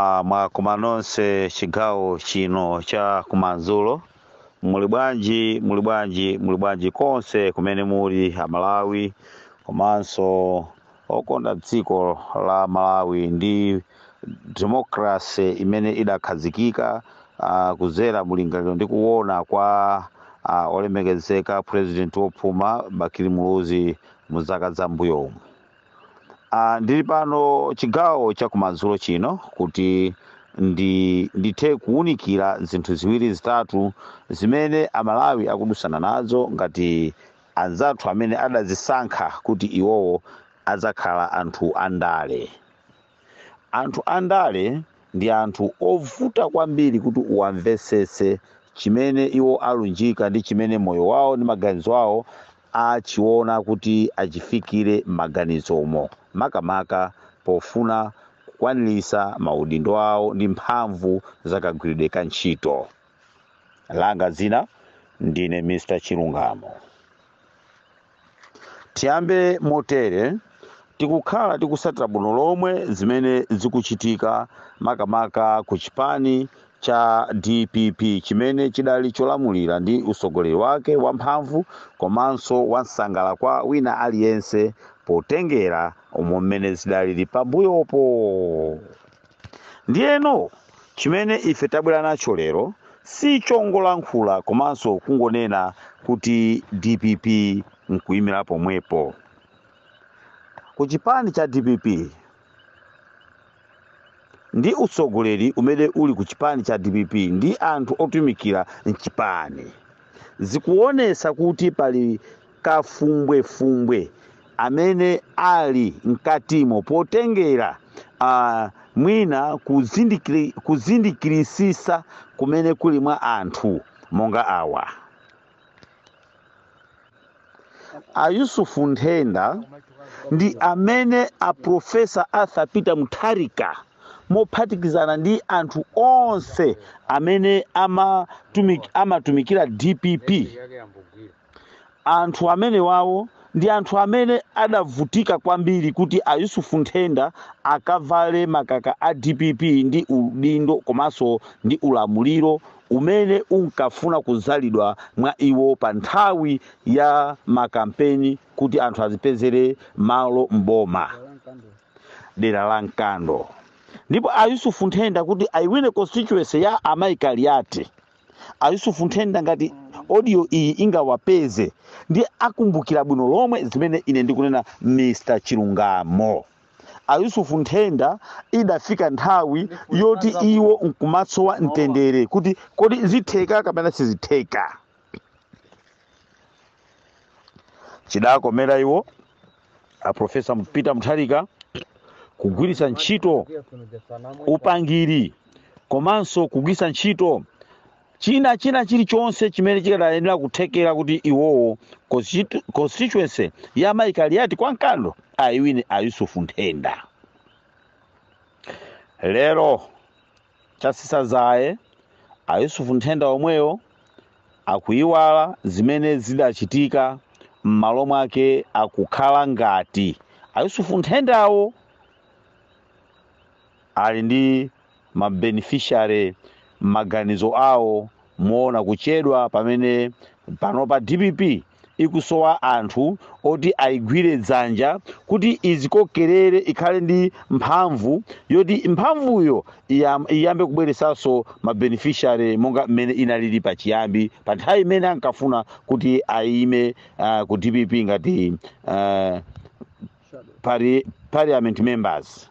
Ah, mwakoma nonse chigawo chino cha kumadzulo muli bwanji muli bwanji muli bwanji konse kumene muli amalawi komanso okonda dziko la malawi ndi demokrase imene idakhazikika ah, kuzera mulingaliro ndi kuona kwa ah, olemekezeka president wopuma bakili muluzi mu zaka za mbuyomu Ah, ndili pano chigawo cha kumadzulo chino kuti ndi ndithe kuwunikira zinthu ziwiri zitatu zimene amalawi akudusana nazo ngati anzathu amene adazisankha kuti iwowo adzakhala anthu andale Anthu andale ndi anthu ovuta kwambiri kuti uwamvetsetse chimene iwo alunjika ndi chimene moyo wawo ndi maganizo awo achiona kuti achifikire m'maganizomo, makamaka pofuna kukwaniritsa maudindo awo ndi mphamvu za kagwiridwe ka ntchito. Langa dzina, Ndine Mr. Chilungamo. Tiyambe motere, Tikukhala tikusatira bwino lomwe zimene zikuchitika makamaka ku chipani cha dpp chimene chidali cholamulira ndi utsogoleri wake wamphamvu komanso wansangala kwa wina aliyense potengera umo mmene zidalili pambuyopo. Ndiyeno chimene ife tabwera nacho lero si chongolankhula komanso kungonena kuti dpp n'kuimira pomwepo. Ku chipani cha dpp ndi utsogoleri umene uli ku chipani cha dpp ndi anthu otumikira m'chipani zikuonetsa kuti pali kafumbwefumbwe amene ali mkatimo potengera uh, mwina kuzindikiri, kuzindikirisisa kumene kuli mwa anthu monga awa ayusufu nthenda ndi amene a profesa arthur peter mutharika mophatikizana ndi anthu onse amene amatumik, amatumikira dpp Anthu amenewawo ndi anthu amene adavutika kwambiri kuti a Yusuf Nthenda akavale makaka a dpp ndi udindo komanso ndi ulamuliro umene unkafuna kudzalidwa mwa iwo pa nthawi ya makampeni kuti anthu azipezere malo m'boma dera la Nkando ndipo a Yusuf Nthenda kuti ayiwine constituency ya Amayi Kaliati. a yusufu nthenda ngati audio iyi ingawapeze ndi akumbukira bwino lomwe zimene ine ndikunena mr chilungamo a yusufu nthenda idafika nthawi yoti iwo nkumasowa mtendere kuti kodi zitheka kapena sizitheka chidakomera iwo a profesa peter mutharika kugwiritsa ntchito upangiri komanso kugwiritsa ntchito china china chilichonse chimene chikadayenera kuthekera kuti iwowo constitu- constituency ya mayikaliyati kwa nkando ayiwine a yusufu nthenda lero Chatsitsa dzaye a Yusuf Nthenda omwewo akuiwala zimene zidachitika m'malo mwake akukhala ngati a Yusuf Nthendawo ali ndi ma beneficiary m'maganizo awo moona kuchedwa pamene panopa dpp ikusowa anthu oti ayigwire dzanja kuti izikokerere ikhale ndi mphamvu yoti mphamvuyo iyam- iyambe kubweresanso ma beneficiary monga mmene inalili pachiyambi pa nthawi imene ankafuna kuti ayime uh, ku dpp ngati uh, pari, parliament members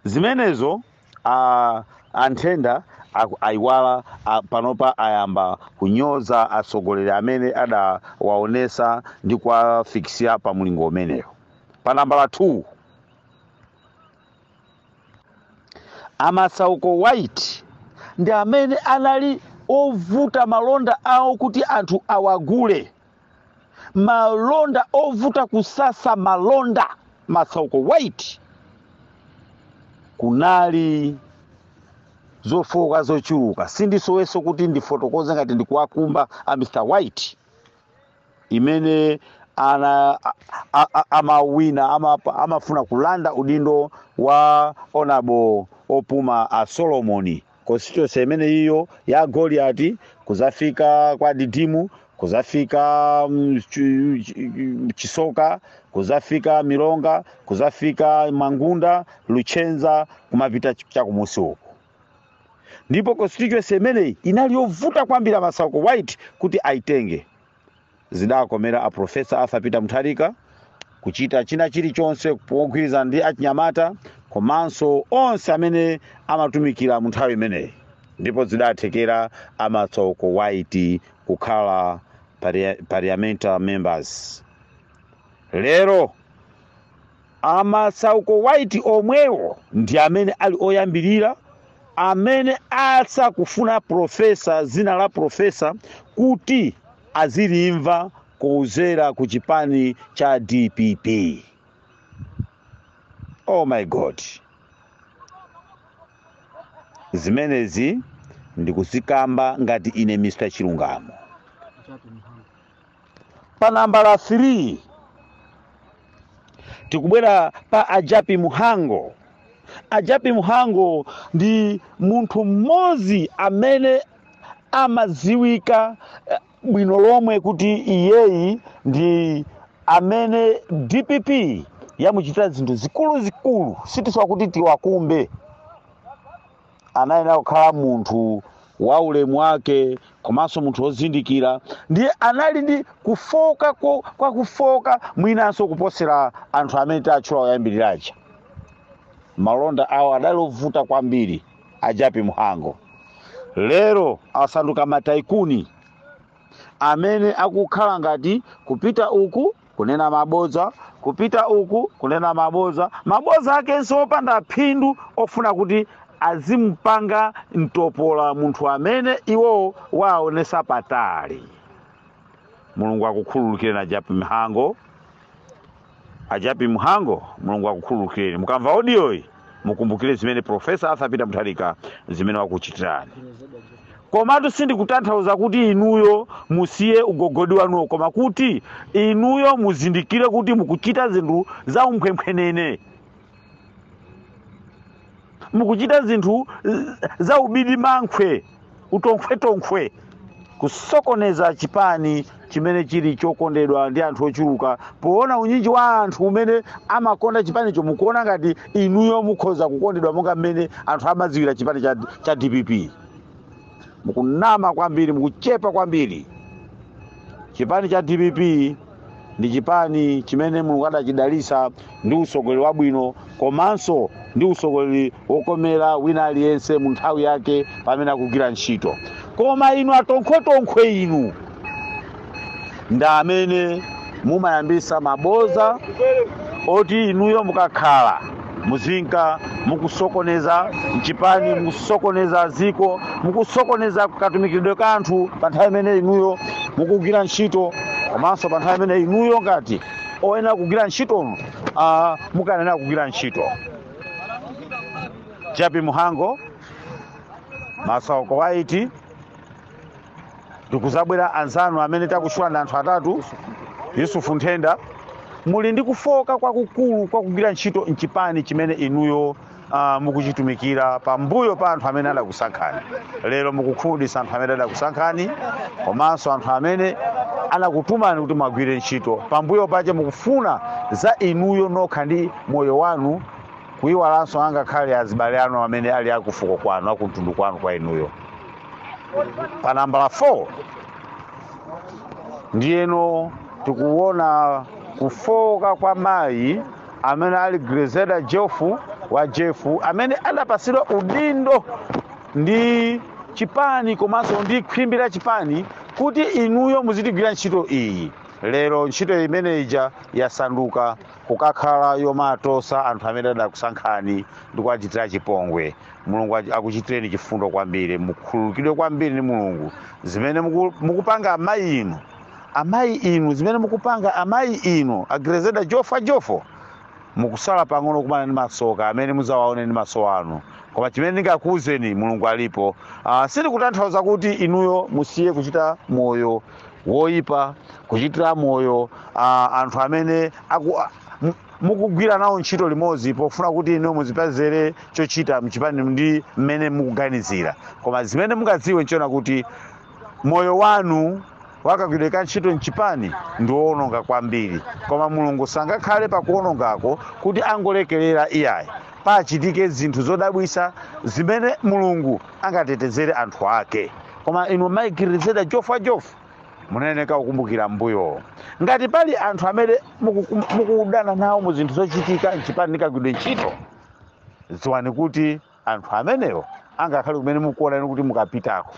zimenezo a anthenda aku- ayiwala a- panopa ayamba kunyoza atsogoleri amene adawaonesa ndi kuwafikisira pa mlingo umeneyo pa nambala 2 a masauko white ndi amene anali ovuta malonda awo kuti anthu awagule malonda ovuta kusasa malonda masauko white kunali zofowoka zochuluka sindisoweso kuti ndifotokoze ngati ndikuwakumba a mr white imene ana a- a- a- amawina ama- amafuna kulanda udindo wa onabo opuma a solomoni constituency imene iyo ya goliati kuzafika kwa didimu kuzafika mm, chu- chu- chisoka kuzafika milonga kuzafika mangunda luchenza kumapita ch- chakumusi uko ndipo constituency imeneyi inali yovuta kwambiri masauko white kuti aitenge Zidakomera a Professor Arthur Peter Mutharika kuchita china chilichonse pogwirizana ndi achinyamata komanso onse amene amatumikira mu nthawi imeneyi ndipo zidathekera a Masauko White kukhala paria- parliamentary members lero A Masauko White omwewo ndi amene ali oyambirira amene asakufuna profesa dzina la profesa kuti azilimva kudzera ku chipani cha dpp. Oh my God. Zimenezi ndikuzikamba ngati ine Mr. Chilungamo. Pa nambala 3 tikubwera pa a Japi Mhango. A Japi Mhango ndi munthu mmodzi amene amadziwika eh, bwino lomwe kuti iyeyi ndi amene DPP yamuchitira zinthu zikuluzikulu sitisowa kuti tiwakumbe anayenera kukhala munthu wa ulemu wake komanso munthu wozindikira ndiye anali ndi kufooka ko- kwa kufooka mwinanso kuposera anthu amene tatchula oyambirira aja malonda awo adali ovuta kwambiri a Japi Mhango lero asanduka mataikuni amene akukhala ngati kupita uku kunena mabodza kupita uku kunena mabodza mabodza akenso opanda phindu ofuna kuti azimupanga mtopola munthu amene iwowo waonesa patali mulungu akukhululukireni a Japi Mhango a Japi Mhango mulungu akukhululukireni mukamva audio iyi mukumbukire zimene profesa arthur peter mutharika zimene wakuchitirani komatu sindikutanthauza kuti inuyo musiye ugogodi wanuwo koma kuti inuyo muzindikire kuti mukuchita zinthu za umphwemphwenene mukuchita zinthu eh, za ubirimankhwe utonkhwetonkhwe kusokoneza chipani chimene chili chokondedwa ndi anthu ochuluka poona unyinji wa anthu umene amakonda chipanicho mukuona ngati inuyo mukhoza kukondedwa monga mmene anthu amadziwira chipani cha, cha dpp mukunama kwambiri mukuchepa kwambiri chipani cha dpp ndi chipani chimene mulungu adachidalitsa ndi utsogoleri wabwino komanso ndi utsogoleri wokomera wina aliyense mu nthawi yake pamene akugwira ntchito koma inu atonkhwetonkhwe inu ndi amene mumayambisa maboza oti inuyo mukakhala muzinka mukusokoneza mchipani mukusokoneza ziko mukusokoneza katumikiridwe ka anthu pa nthawi imene inuyo mukugwira ntchito komanso pa nthawi imene inuyo ngati oyenera kugwira ntchito uh, mukulephera kugwira ntchito Japi Mhango Masauko White ndikudzabwera anzanu amene takutchula ndi anthu atatu yusufu nthenda muli ndi kufoka kwakukulu kwakugwira ntchito mchipani chimene inuyo uh, mukuchitumikira pambuyo pa anthu amene adakusankhani lero mukukhumudwitsa anthu amene adakusankhani komanso anthu amene anakutumani kuti muwagwire ntchito pambuyo pache mukufuna za inuyo nokha ndi moyo wanu kuyiwalanso angakhale azibale anu amene ali akufuko kwanu akumtundu kwanu kwa inuyo pa nambala 4 ndiyeno tikuona kufoka kwa mayi amene ali Grezelder Jeffrey wa Jeffrey amene adapasidwa udindo ndi chipani komanso ndi khwimbi la chipani kuti inuyo muzitigwirira ntchito iyi lero ntchito imeneyija yasanduka kukakhala yomatosa anthu amene adakusankhani ndi kuwachitira chipongwe mulungu achi- akuchitireni chifundo kwambiri mukhululukidwe kwambiri ndi mulungu zimene muku- mukupanga amayi inu amayi inu zimene mukupanga amayi inu a Grezelder Jeffrey Jeffrey mukusala pang'ono kumana ndi masoka amene muzawaone ndi maso anu koma chimene ndingakuwuzeni mulungu alipo uh, sindikutanthauza kuti inuyo musiye kuchita moyo woyipa kuchitira moyo uh, anthu amene aku, uh, mukugwira nawo ntchito limodzi pofuna kuti inu muzipezere chochita mchipani ndi mmene mukuganizira koma zimene mungadziwe nchoona kuti moyo wanu wakagwidwe ka ntchito mchipani ndi woononga kwambiri koma mulungu sangakhale pakuonongako kuti angolekerera iyayi pachitike zinthu zodabwisa zimene mulungu angatetezere anthu ake koma inu mayi Grezelder Jeffrey Jeffrey munayeneka kukumbukira mbuyo ngati pali anthu amene muku- mukudana nawo mu zinthu zochitika mchipani nikagwidwe ntchito dziwani kuti anthu amenewo angakhale kumene mukuona inu kuti mukapitako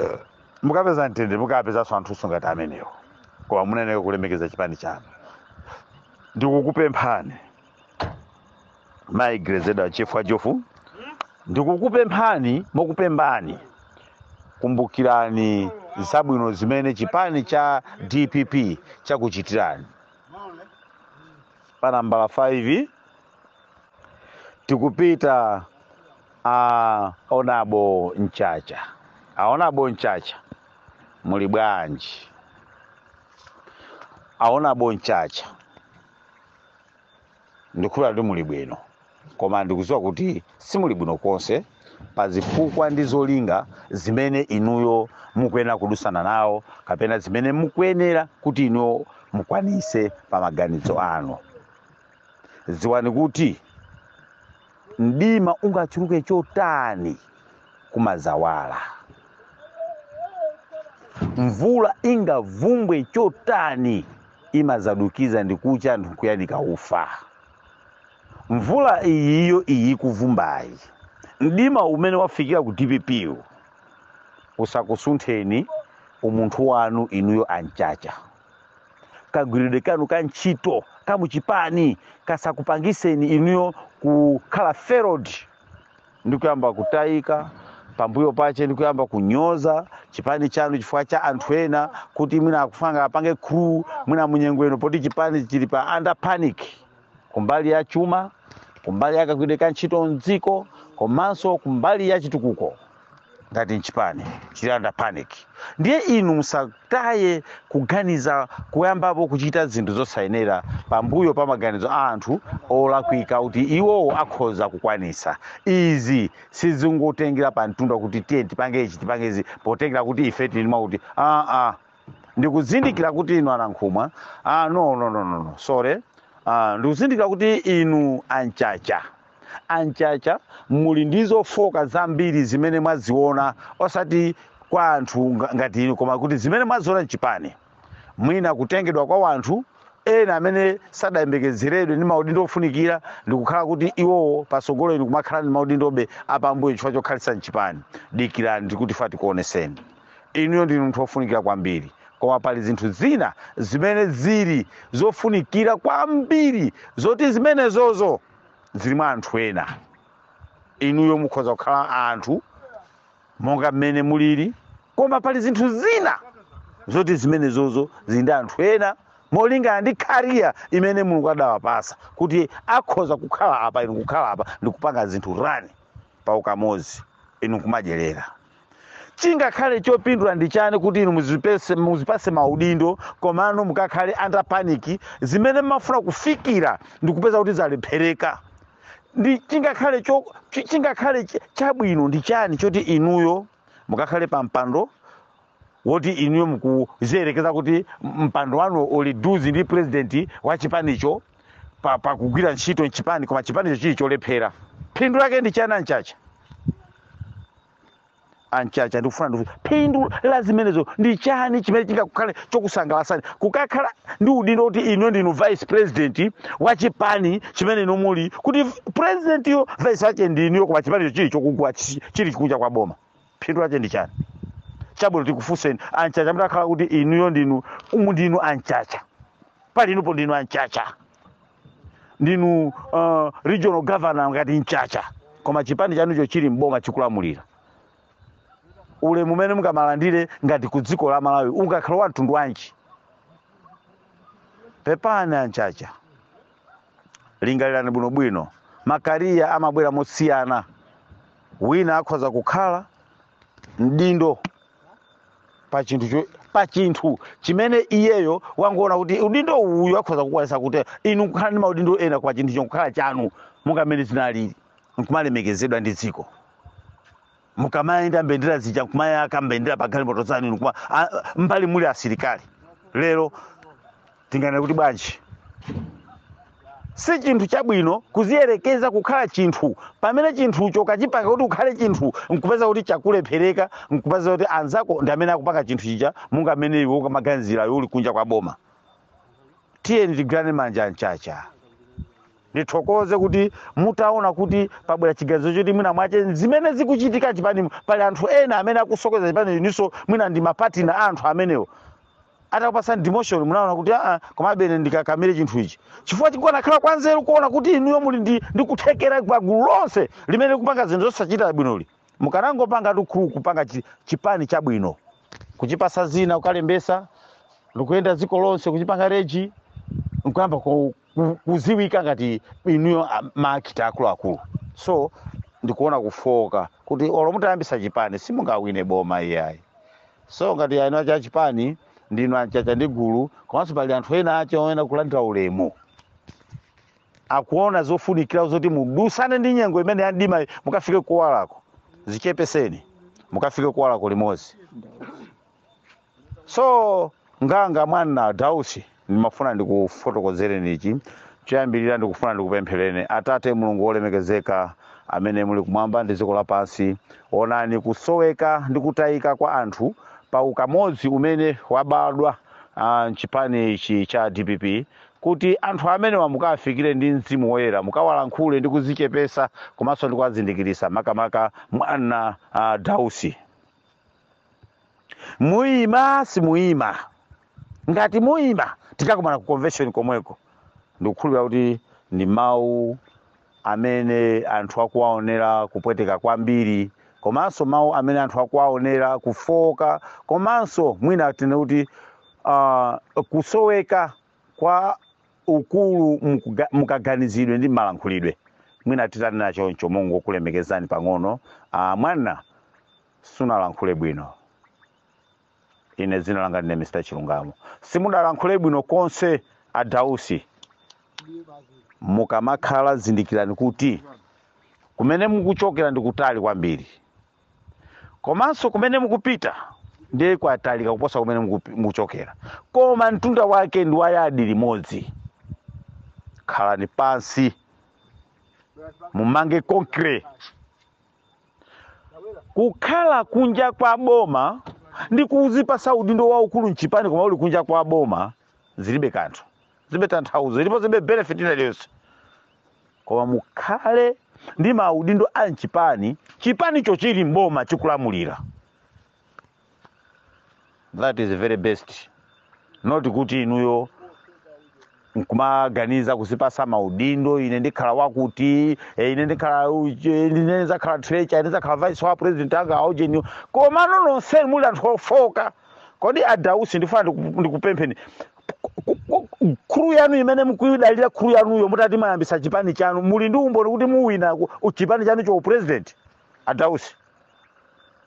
eh, mukapeza mtendere mukapezanso anthunso ngati amenewo koma munayeneka kulemekeza chipani chanu ndikukupemphani mayi Grezelder wa Jeffrey Jeffrey ndikukupemphani mokupembani kumbukirani zabwino zimene chipani cha dpp chakuchitirani pa nambala 5 tikupita a honourable Mchacha a honourable Mchacha muli bwanji a honourable Mchacha ndikukhulupira kuti muli bwino koma ndikudziwa kuti simuli bwino konse pa zifukwa ndi zolinga zimene inuyo mukuyenera kudusana nawo kapena zimene mukuyenera kuti inuyo mukwanise pa maganizo anu dziwani kuti mdima ungachuluke chotani kumadzawala mvula ingavumbwe chotani imadzadukiza ndi kucha anthu kuyanika ufa mvula iyiyo iyi kuvumbayi mdima umene wafikira ku dpp usakusuntheni umunthu wanu inuyo anchacha kagwiridwe kanu ka ntchito ka muchipani kasakupangiseni inuyo kukhala failed ndi kuyamba kutayika pambuyo pache ndi kuyamba kunyoza chipani chanu chifukwa cha anthu ena kuti mwina akufuna apange crew mwina munyengweno poti chipani chili pa under panic kumbali ya chuma kumbali ya kagwiridwe ka ntchito mdziko komanso kumbali ya chitukuko ngati mchipani chili under panic ndiye inu musataye kuganiza kuyambapo kuchita zinthu zosayenera pambuyo pa maganizo a anthu olakwika kuti iwowo akhoza kukwanisa izi sizingotengera pa mtunda kuti tiye tipange ichi tipange izi potengera kuti ife tili mwakuti aa ndikuzindikira kuti inu anankhumwa ah, no, no, no, no, no. sorry ah, ndikuzindikira kuti inu anchacha anchacha muli ndi zofoka zambiri zimene mwaziona osati kwa anthu nga- ngati inu koma kuti zimene mwaziona mchipani mwina kutengedwa kwa wanthu ena amene sadayembekezeredwe ndi maudindo ofunikira ndikukhala kuti iwowo pasogolo inu kumakhala ndi maudindobe apambuyo chifukwa chokhalitsa mchipani dikirani ndikuti fatsani tikuoneseni inuyo ndinu munthu wofunikira kwambiri koma pali zinthu zina zimene zili zofunikira kwambiri zoti zimenezozo zili mwa anthu ena inuyo mukhoza kukhala anthu monga mmene mulili koma pali zinthu zina zoti zimenezozo zili ndi anthu ena molingana ndi career imene mulungu adawapasa kuti akhoza kukhala apa inu kukhala apa ndikupanga zinthu run pa ukamodzi inu kumadyerera chingakhale chopindula ndi chani kuti inu muzipese muzipase maudindo komano mukakhale under panic zimene mafuna kufikira ndi kupeza kuti zalephereka ndi chingakhale cho chi- chingakhale ch- chabwino ndi chani choti inuyo mukakhale pa mpando woti inuyo mukuziyerekeza kuti mpando wanu uli deuce ndi president wa chipanicho pa, pa kugwira ntchito mchipani koma chipanicho chili cholephera phindu lake ndi chani anchacha anchacha ndikufuna ndifu phindu la zimenezo ndi chani chimene chingakukhale chokusangalasani kukakhala ndi udindo kuti inuyo ndinu vice president wa chipani chimene inu muli kuti presidentiyo vice wake ndi inuyo koma chipanicho chili chokugwa chi- chili chikunja kwa boma phindu lake ndi chani chabwino tikufunseni anchacha mutakhala kuti inuyo ndinu umu ndinu anchacha pali inupo ndinu anchacha ndinu uh, regional governor ngati mchacha koma chipani chanucho chili mboma chikulamulira ulemu umene mungamalandire ngati ku dziko la malawi ungakhale wa mtundu wanji pepani anchacha lingalirani bwinobwino makariya amabwera mosiyana wina akhoza kukhala mdindo pa chinthu cho- pa chinthu chimene iyeyo wangoona kuti udindo uyu akhoza kukwanitsa kuti inu kukhala ndi maudindo ena kwa chinthu chokhala chanu munga mmene zinalili nkumalemekezedwa ndi dziko mukamayenda mbendera zija nkumaika mbendera pa galimoto zanu inu kuma- mbali muli asilikali lero tinganene kuti bwanji si chinthu chabwino kuziyerekeza kukhala chinthu pamene chinthucho kachipanga kuti ukhale chinthu nkupeza kuti chakulephereka nkupeza kuti anzako ndi amene akupanga chinthu chija munga mmene iwe unkamaganizira iwe uli kunja kwa boma tiyeni tigwirane manja mchacha ndithokoze kuti mutaona kuti pabwera chiganizo choti mwina mwache zimene zikuchitika chipani pali anthu ena amene akusokoneza chipanichi niso mwina ndi mapatina a anthu amenewo atakupatsani demotion munaona kuti aa komabe ine ndikakamire chinthu ichi chifukwa chikanakhala chanzeru kuona kuti inuyo muli ndi ndi kuthekera pa gulu lonse limene likupanga zinthu zosachita bwinoli mukanangopanga tukhu kupanga chi- chipani chabwino kuchipasa dzina kukalembesa ndikuyenda dziko lonse kuchipanga rise nkuyamba ku- ku- kuziwika ngati inuyo a- ma actor akuluakulu so ndikuona kufooka kuti olo mutayambisa chipani simungawine boma iyayi so ngati eni ake a chipani ndinu anchacha ndi gulu komanso pali anthu ena ache oyenera kulandira ulemu akuona zofunikira zoti mudutsane ndi nyengo imene ya mdima mukafike kuwalako dzichepetseni mukafike kuwalako limodzi so nganganga mwana dausi ndimafuna ndikufotokozere ichi choyambirira ndikufuna ndikupempherereni atate mulungu wolemekezeka amene muli kumwamba ndi dziko lapansi onani kusoweka ndi kutayika kwa anthu pa ukamodzi umene wabadwa ah, mchipani ichi cha dpp kuti anthu amenewa mukawafikire ndi mzimu woyera mukawalankhule ndi kudzichepetsa komanso ndi kuwazindikiritsa makamaka mwana ah, dausi muyima simuyima ngati muyima tikakumana ku convention komweko ndikukhulupirira kuti ndi mawu amene anthu akuwaonera kupweteka kwambiri komanso mawu amene anthu akuwaonera kufooka komanso mwina tinene kuti uh, kusoweka kwa ukulu mukuga- mukaganizidwe ndi malankhulidwe mwina titanena choncho mongokulemekezani pang'ono uh, mwana sunalankhule bwino ine dzina langa ndine mr chilungamo simunalankhule bwino konse a dausi mukamakhala zindikirani kuti kumene mukuchokera ndi kutali kwambiri komanso kumene mukupita ndiye kwatalika kuposa kumene mukupi- mukuchokera koma mtunda wake ndi wayadi limodzi khalani pansi mumange concrete kukhala kunja kwa boma ndi kuzipasa udindo waukulu mchipani koma uli kunja kwa boma zilibe kanthu zilibe tanthauzo ndipo zilibe benefit ina iliyonse koma mukhale ndi maudindo a mchipani chipanicho chili mboma chikulamulira that is very best not kuti inuyo nkumaganiza kuzipasa maudindo ine ndikhala wakuti eh, ine ndikhala uje, ine ndizakhala trecha ine ndizakhala vice wa president anga aujeni komano nonseni muli anthu ofoka kodi adausi ndikufuna ndiku- ndikupempheni ku- ku- ku- khulu yanu imene mukuyidalira khulu yanuyo mutati mwayambitsa chipani chanu muli ndi umboni kuti muwina ku- chipani chanu cha upresident adausi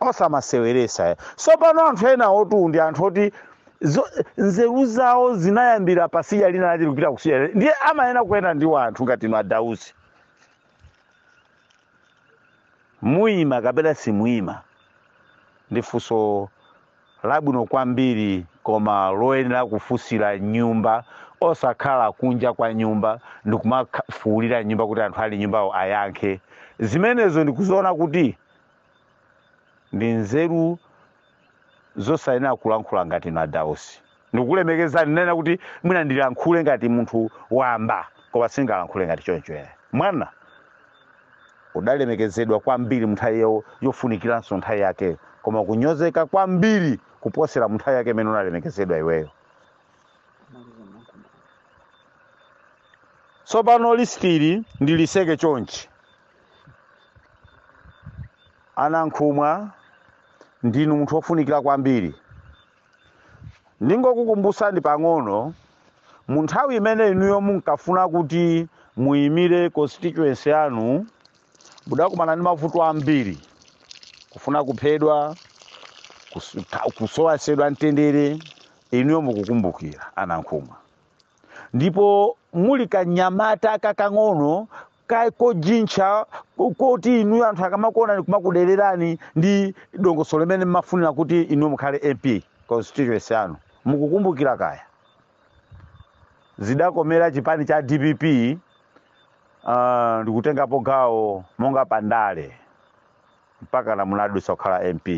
osamaseweresa tsopano anthu ena otu ndi anthu oti zo- nzeru zawo zinayambira patsidya lina lija zikupita kutsidya lina. ndiye amayenera kuyenda ndi wanthu ngati inu adausi muyima kapena simuyima ndi funso labwino kwambiri koma loyenera kufunsira mnyumba osakhala kunja kwa nyumba ndikumafuulira mnyumba kuti anthu ali mnyumbawo ayankhe zimenezo ndikuziona kuti ndi nzeru zosayenera kulankhula ngati inu adausi ndikukulemekezani ndanena kuti mwina ndilankhule ngati munthu wamba koma sindingalankhule ngati choncho ere mwana udalemekezedwa kwambiri munthawi yo- yofunikiranso nthawi yake koma kunyozeka kwambiri kuposera munthawi yake imene unalemekezedwa iweyo tsopano lisiti ili ndilitseke chonchi a nankhumwa ndinu munthu wofunikira kwambiri ndingokukumbutsani pang'ono mu nthawi imene inuyo munkafuna kuti muyimire constituency yanu mudakumana ndi mavuto ambiri kufuna kuphedwa kus- ka- kusowasedwa mtendere inuyo mukukumbukira a nankhumwa ndipo muli kanyamata kakang'ono kaye kojintcha koti inuyo anthu akamakuonani kumakudererani ndi dongosolo limenelo mmafunira kuti inuyo mukhale mp constituency yanu mukukumbukira kaya zidakomera chipani cha dpp uh, ndikutengapo gawo monga pandale mpaka na munadutsa kukhala mp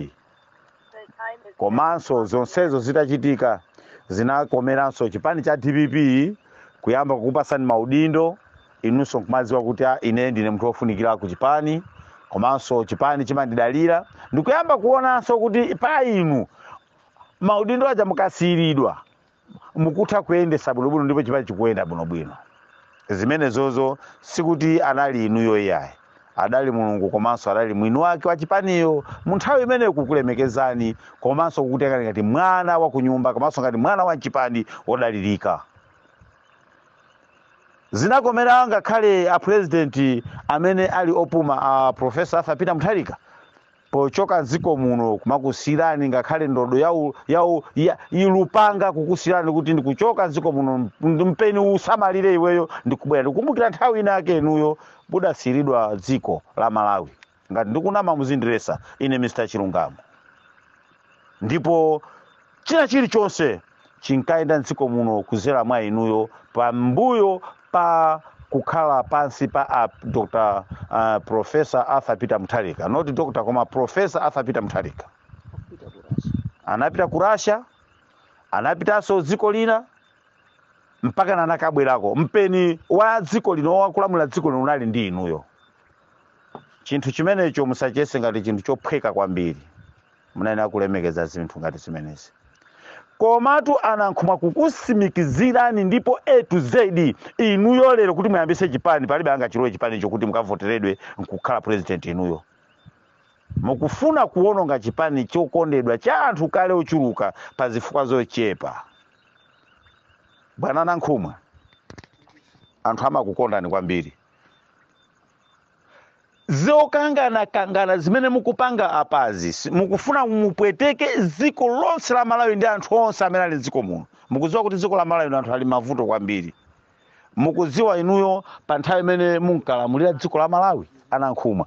komanso zonsezo zitachitika zinakomeranso chipani cha dpp kuyamba kukupasani maudindo inunso nkumadziwa kuti ah ine ndine munthu wofunikira ku chipani komanso chipani chimandidalira ndikuyamba kuonanso kuti pa inu maudindo aja mukasiyiridwa mukutha kuyendesa bwinobwino ndipo chipani chikuyenda bwinobwino zimenezozo sikuti anali inuyo iyayi adali mulungu komanso adali mwini wake wa chipaniyo mu nthawi imene kukulemekezani komanso kukutengani ngati mwana wa kunyumba komanso ngati mwana wa mchipani wodalirika zinakomera ngakhale apurezidenti amene ali opuma a profesa arthur peter mutharika pochoka m'dziko muno kumakusiyirani ngakhale ndodo ya lupanga kukusiyirani kuti ndikuchoka m'dziko muno mpeni usamalire iweyo ndikubwera ndikukumbukira nthawi ina yake inuyo mudasiyiridwa dziko la malawi ngati ndikunama muzindiletsa ine mr chilungamo ndipo china chilichonse chinkayenda mdziko muno kuzera mwa inuyo pambuyo pa kukhala pansi pa a dr uh, professor arthur peter mutharika not dr koma professor arthur peter mutharika anapita ku russia anapitanso dziko lina mpaka nanakabwerako mpeni wa dziko lino wakulamula dziko lino unali ndi inuyo chinthu chimenecho musachiyese ngati chinthu chophweka kwambiri munayenera kulemekeza zinthu ngati zimenezi komatu anankhumwa kukusimikizirani ndipo a to z inuyo lero kuti muyambise chipani palibe angachilowe chipani chokuti mukavoteredwe nkukhala president inuyo mukufuna kuwononga chipani chokondedwa cha anthu kale ochuluka pa zifukwa zochepa bwana anankhumwa anthu amakukondani kwambiri zokangana kangana zimene mukupanga apazi si- mukufuna mupweteke dziko lonse la malawi ndi anthu onse amene ali mdziko muno mukudziwa kuti dziko la malawi anthu ali m'mavuto kwambiri mukudziwa inuyo pa nthawi imene munkalamulira dziko la malawi anankhumwa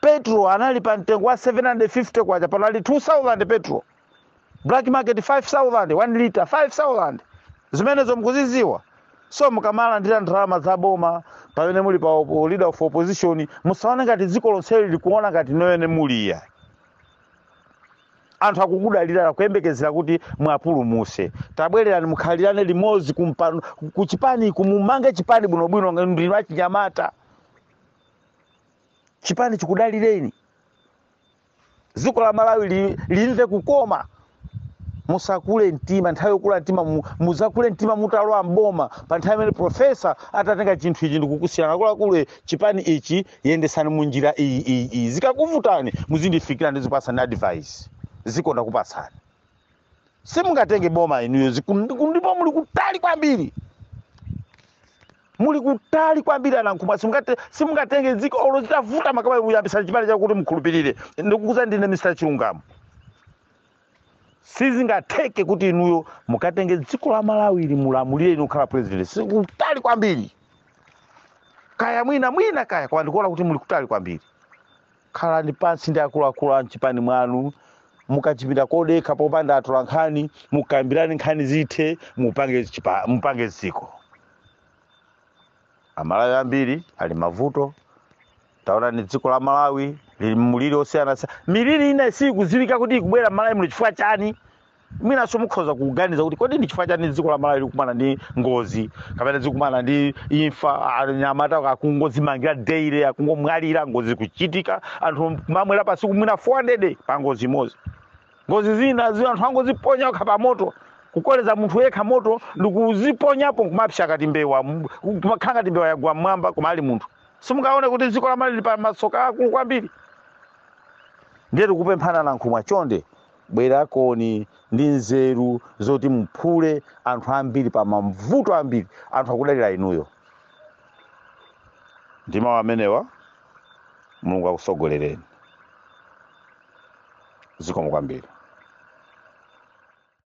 petro anali pa mtengo wa 750 kwacha pano ali 2000 petro black market 5000 1 liter 5000 zimenezo mukuziziwa so mukamalandira ndalama za boma pamene muli pa opo- leader of opposition musaone ngati dziko lonse likuona ngati nonenoyo muli ya anthu akukudalirani akuyembekezera kuti mwapulumuse tabwererani mukhalirane limodzi kumpano- kuchipani uku mumange chipani bwinobwino ndinu achinyamata chipani chikudalireni dziko la malawi li- limve kukoma musakule mtima nthawi yokula mtima mu- muzakule mtima mutalowa mboma pa nthawi imene profesa atatenga chinthu ichi ndikukusiyirani akuluakulu chipani ichi yendesani mu njira iyi iyi iyi zikakuvutani muzindifikira ndizikupasani advice zikonda kupatsani simungatenge boma inuyo ziku- ndiku- ndipo muli kutali kwambiri muli kutali kwambiri anankhumwa simungate- simungatenge dziko olo zitavuta maka kuyambisani chipani chakuti mukhulupirire ndikukuuzani ndine mr chilungamo sizingatheke kuti inuyo mukatenge dziko la malawi ili mulamulire inu kukhala president zikutali kwambiri kaya mwina mwina kaya koma ndikuona kuti muli kutali kwambiri khalani pansi ndi akuluakulu a mchipani mwanu mukachipinda kodekha popanda atola nkhani mukambirane nkhani zithe mupange chipa- mupange dziko amalawi ambiri ali mmavuto taonani dziko la malawi lili mmuliri osiyanasiyana miliri ina sikudziwika kuti ikubwera mmalawi muno chifukwa chani mwinanso mukhoza kuganiza kuti kodi ndi chifukwa chani dziko la malawi likumana ndi ngozi kapena zikumana ndi imfa anyamata akungozimangira daily akungomwalira ngozi kuchitika anthu kumamwalira pa tsiku mwina 400 pa ngozi imodzi ngozi zina zina anthu angoziponya okha pa moto kukoleza munthu yekha moto ndikuziponyapo nkumapsa ngati mbewa m- kumakhala ngati mbewa yagwa mmwamba koma ali munthu simungaone kuti dziko la malawi lili pa masoka aakulu kwambiri ndiye tikupemphani anankhumwa chonde bwerakoni ndi nzeru zoti muphule anthu ambiri pa mavuto ambiri anthu akudalira inuyo ndi mawu amenewa mulungu akusogolereni zikomo kwambiri